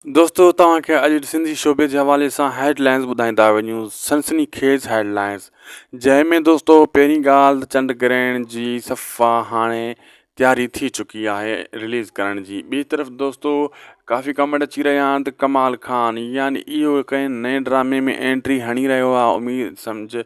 دوستو توهان کي اڄ جي سنڌي شعبي جي حوالي سان هيڊ لائنز ٻڌائيندا وڃون سنسني خيز هيڊ لائنز جنهن ۾ دوستو پهرين ڳالهه ته چنڊ گرهڻ جي صفا هاڻي تياري ٿي چڪي آهي رليز ڪرڻ جي ٻي طرف دوستو ڪافي ڪمينٽ اچي رهيا آهن ته ڪمال خان يعني اهو ڪنهن نئين ڊرامي ۾ انٽري هڻي رهيو آهي اميد سمجھ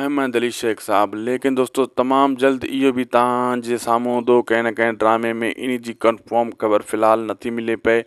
احمد علي شيخ صاحب ليڪن دوستو تمام جلد اهو به تهان جي سامهون هوندو ڪنهن نه ڪنهن ڊرامي ۾ ان جي ڪنفرم خبر في الحال نٿي ملي پئي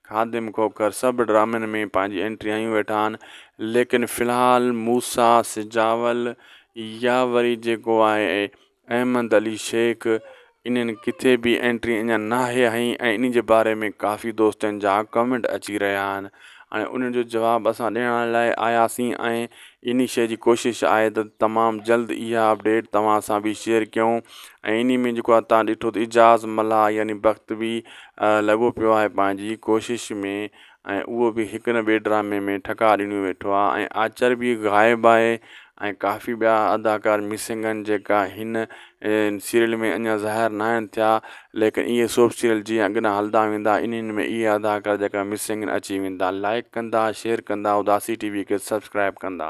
خادم کوکر سڀ ڊرامن ۾ پنهنجي انٽري هنيون ويٺا آهن ليڪن في الحال موسيٰ سجاول يا وري جيڪو آهي احمد علي شيخ انهن ڪٿي به انٽري اڃا ناهي هنئي ۽ انهي جي باري ۾ ڪافي دوستن جا ڪمينٽ اچي رهيا آهن هاڻي انهن جو جواب اسان ڏيڻ لاء آياسين ۽ انهي شيء جي ڪوشش آهي ته تمام جلد اها اپڊيٽ توهان سان به شيئر ڪيون ۽ انهي ۾ جيڪو آهي توهان ڏٺو ته اعجاز ملاح يعني بخت به لڳو پيو آهي پنهنجي ڪوشش ۾ ۽ اهو به هڪ نه ٻئي ڊرامي ۾ ٺڪا ڏنيون ويٺو آهي ۽ آچر به غائب آهي ۽ ڪافي ٻيا اداڪار مسنگ آهن جيڪا هن انهن سيريل ۾ اڃا ظاهر ناهن ٿيا ليڪن اهي سوپ سيريل جيئن اڳنا هلندا ويندا انهن ۾ اهي اداڪار جيڪا مسنگ اچي ويندا لائيڪ ڪندا شيئر ڪندا اداسي ٽي وي کي سبسڪرائيب ڪندا.